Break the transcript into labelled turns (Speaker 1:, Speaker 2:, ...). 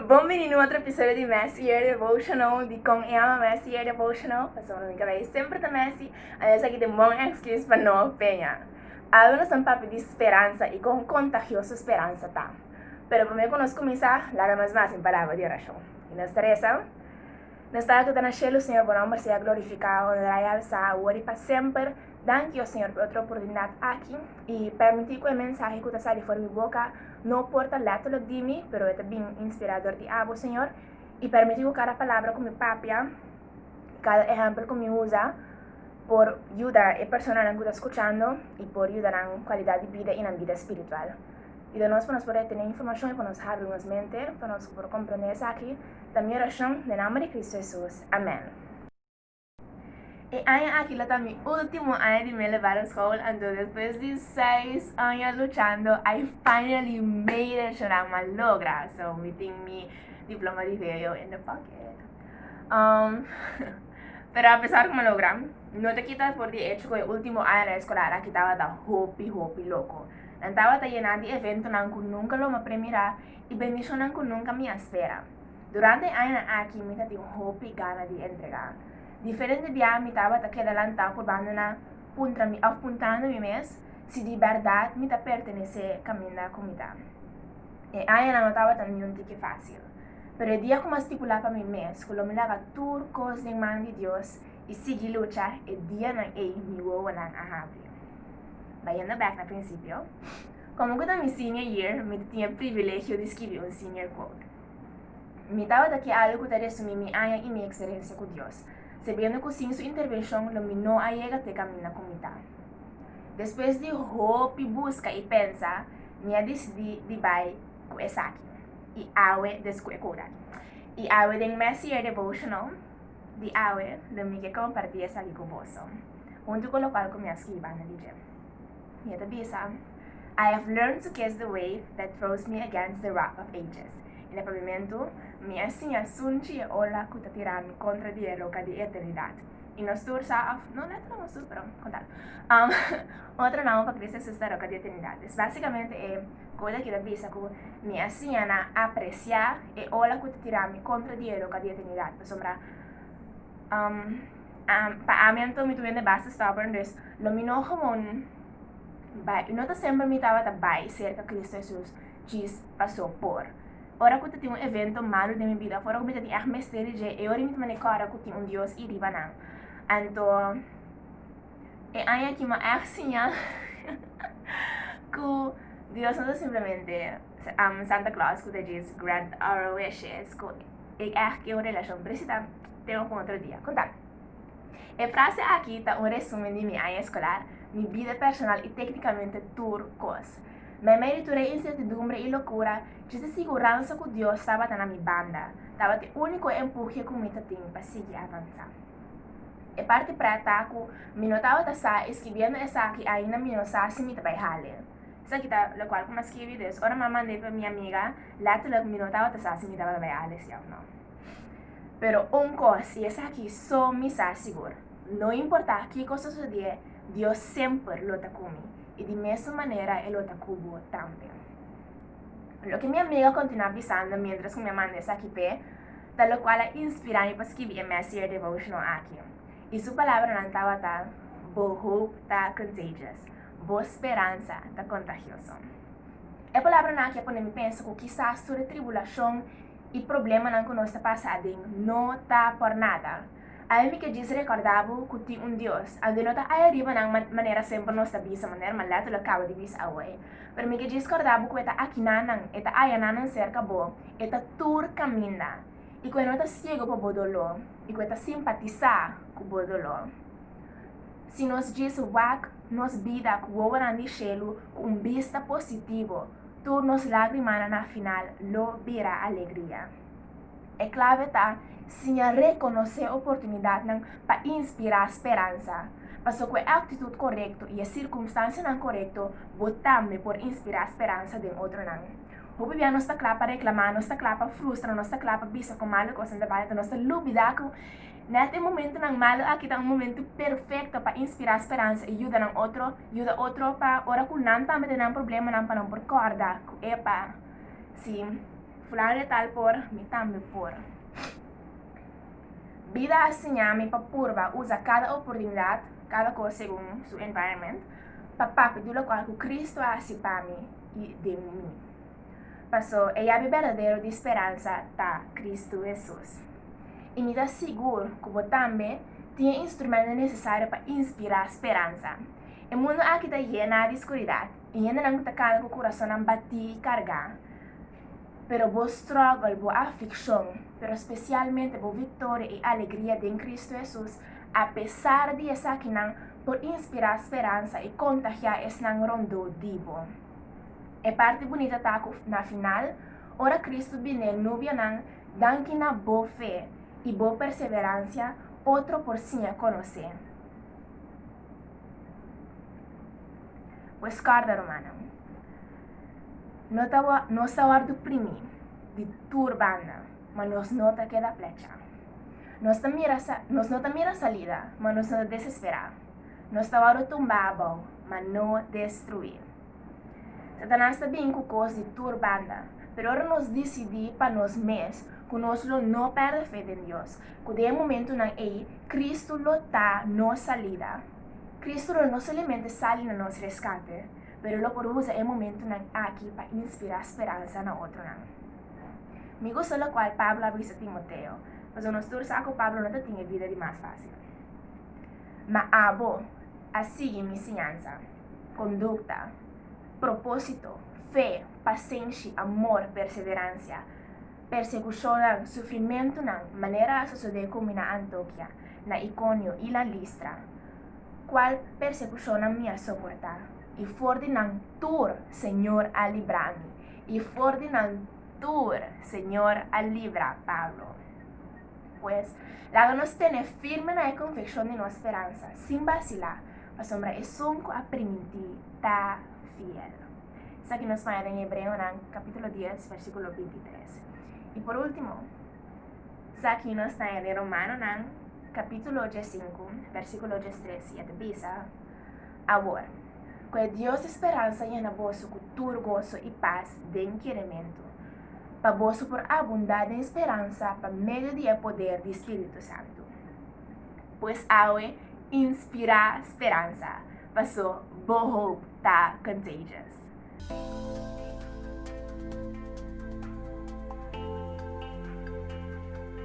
Speaker 1: Bon bini nu otro episodio di Messy Year Devotional di Con E Ama Messy Year Devotional Paso un amiga mei semper ta messy and esaki ta un bon excuse pa no peña Algo nos ta papia di speransa y con contagioso speransa ta Pero prome cu nos cuminsa laga nos mas den palabra di oracion y nos ta reza Nos Tate cu ta na cielo Señor bo nomber sea glorificado honra y alzá awor y pa semper Dankio, Señor, por e otro oportunidad aki i permití cu e mensahe cu ta sali for mi boca no por ta letterlijk di mi, pero e ta bin inspirá dor di abo, Señor. I permití cu cada palabra cu mi papia i cada ehempel cu mi usa por yuda e personanan cu ta scuchando i por yuda nan cualidad di bida i nan bida spiritual. Yuda nos pa nos por retene informacion i pa nos habri nos mente pa nos por comprende esaki ta mi oracion den nomber di Cristo Hesus. Amén. E aña aki lo ta mi ultimo aña di mi elevaron school, anto despues di seis aña luchando, I finally made it, Shonan ma logra. So, mi tin mi diploma di VO in the pocket. Um, pero a pesar como logra, no te quita por di hecho que ultimo aña escolar aquí estaba ta hopi hopi loco. Nan estaba ta llena di evento nan ku nunca lo ma premira y bendicionan ku nunca mi espera. Durante e añanan aki mi ta tin un hopi gana di entregá. Diferente biaha mi tabata keda lantá por bandoná puntra mi òf puntando mi mes si di bèrdat mi ta pertenesé kaminda ku mi ta. E añanan no tabata niun di ke fásil. Pero e dia ku mi a stipulá pa mi mes ku lo mi laga tur kos den man di Dios i sigui lucha, e dianan ei mi wowonan a habri. Bayendo bèk na prinsipio. Komo ku ta mi senior year, mi ta tin e privilegio di skibi un senior quote. Mi tabata ke algu ku ta resumí mi aña i mi eksperensia ku Dios, sabiendo ku sin Su intervenshon lo mi no a yega te kaminda ku mi ta. Despues di hopi buska i pensa, mi a disidí di bai ku esaki, i awe des ku e quote aki. I awe den mes year devotional di awe lo mi ke kompartí esaki ku boso, huntu ku lokual ku mi a skibi banda di dje. I e ta bisa, I have learned to kiss the wave that throws me against the rock of ages. I na pabimentu, mi a siña sunchi e ola ku ta tira mi kontra di e roka di eternidat. I nos tur sa òf no nèt nos tur, pero kontal, um, otro naun pa Kristu Jesus ta roka di eternidat. Es básikamente e kos aki ta bisa ku mi a siña na apresiá e ola ku ta tira mi kontra di e roka di eternidat, pasobra um, Um, pa ami anto mi tuende basta stubborn, dus lo mi no gewoon bai, no ta semper mi tabata bai cerca Cristo Jesus, chis paso por. Ora cu ta tin un evento malo den mi vida, fora cu mi ta tin echt mester di dje, e ora mi ta mane cora cu tin un Dios y riba nan. Anto, e aña aki ma echt siña cu Dios no ta simplemente um, Santa Claus cu ta djes grant our wishes, cu e echt kie un relacion, presita Te un otro dia kontal. E frase aki ta un resumen di mi aña eskolar, mi bida personal i téknikamente tur kos. Me mei di tur e insertidumbre i lokura, djes di siguransa ku Dios tabata na mi banda, tabata e úniko empuhe ku mi ta tin pa sigui avansá. E parti prèt ta ku mi no tabata sa i skibiendo esaki ainda mi no sa si mi ta bai hale. Esaki ta lokual ku mi a skibi, dus ora mi a mand'é pa mi amiga, lètterlik mi no tabata sa si mi tabata bai hale si òf no. Pero un kos i esaki so mi sa sigur, no importá kiko ta sosodié, Dios semper lo ta ku mi, i di mesun manera e lo ta ku bo tambe. Loke mi amiga kontinuá bisando miéntras ku mi a manda esaki p'e, ta lokual a inspirá mi pa skibi e mèsier devotional aki. I su palabranan tabata, Bo hoop ta contagious, bo speransa ta kontagioso. E palabranan aki a pone mi pensa ku kisas tur e tribulashon, I problemanan ku nos ta pasa aden no ta por nada. Awe mi ke djis rekorda bo ku tin un Dios. Aunke no ta ai ariba nan manera semper nos ta bisa manera, ma lèt lo e kaba di bisa awe. Pero mi ke djis korda bo ku e ta aki na nan, e ta haya na nan serka bo, e ta tur kaminda, i ku e no ta siego pa bo doló, i ku e ta simpatisá ku bo doló. Si nos djis wak nos bida ku wowonan di shelu ku un bista positivo, Tur nos lágrimanan na final lo bira alegria. E clave ta siña reconoce oportunidadnan pa inspira speransa. Paso cu e actitud corecto y e circumstancianan corecto bo tambe por inspira speransa den otronan. Hopi bia nos ta cla pa reclama, nos ta cla pa frustra, nos ta cla pa bisa cu malo cosnan ta basa ta nos ta lubida cu Nèt e momentunan malu aki ta un momentu perfekto pa inspirá speransa i yuda nan otro. Yuda otro pa ora ku nan tambe den nan problemanan pa nan por kòrda ku, epa, si Fulano de Tal por, mi tambe por. Bida a siña mi pa purba usa kada oportunidat, kada kos segun su environment, pa papia di lokual ku Kristu a hasi pa mi i den mi. Paso, e yabi berdadero di speransa ta Kristu Hesus. I mi ta sigur ku bo tambe tin e instrumento nesesario pa inspirá speransa. E mundu aki ta yená di skuridat i hendenan ku ta kana ku kurasonnan batí i kargá. Pero bo strògel, bo aflikshon, pero spesialmente bo viktoria i alegria den Kristu Hesus, apesar di esakinan, por inspirá speransa i kontagiá esnan rondó di bo. E parti bunita ta ku na final, ora Kristu bini e nubianan, danki na bo fe i bo perseveransia, otro por siña konos'é. Pues kòrda, rumannan, no ta wò nos ta wòrdu oprimí di tur banda, ma nos no ta keda plecha. Nos ta mira sa nos no ta mira salida, ma nos no ta desesperá. Nos ta wòrdu tumbá abou, ma no destruí. Satanas ta bin ku kos di tur banda, pero ora nos disidí pa nos mes ku nos lo no pèrdè fe den Dios, ku den e momentunan ei Kristu lo ta nos salida, Kristu lo no solimente sali na nos reskate, pero lo por usa e momentunan aki pa inspirá speransa na otronan. Mi gusta lokual Pablo a bisa Timoteo, pasobra nos tur sa ku Pablo no ta tin e bida di mas fásil. Ma abo a sigui mi siñansa, kondukta, propósito, fe, pasenshi, amor, perseveransha, persekushonnan, sufrimentunan, manera a sosodé ku mi na Antokia, na Ikonio i na Listra, kual persekushonnan mi a soportá, i for di nan tur Señor a libra mi, i for di nan tur Señor a libra Pablo. Pues, laga nos tene firme na e konfekshon di nos speransa, sin basilá, pasobra esun ku a primintí ta fiel. Esaki nos maña den Hebreonan kapítulo dies, versíkulo binti tres. I por último, esaki nos maña den Romanonan kapítulo diesinku, versíkulo diestres, i a ta bisa, Awor, ku e Dios di speransa yena boso ku tur goso i pas den kierementu, pa boso por abundá den speransa pa medio di e poder di Spiritu Santu. Pues awe, inspirá speransa, paso bo hoop ta contagious.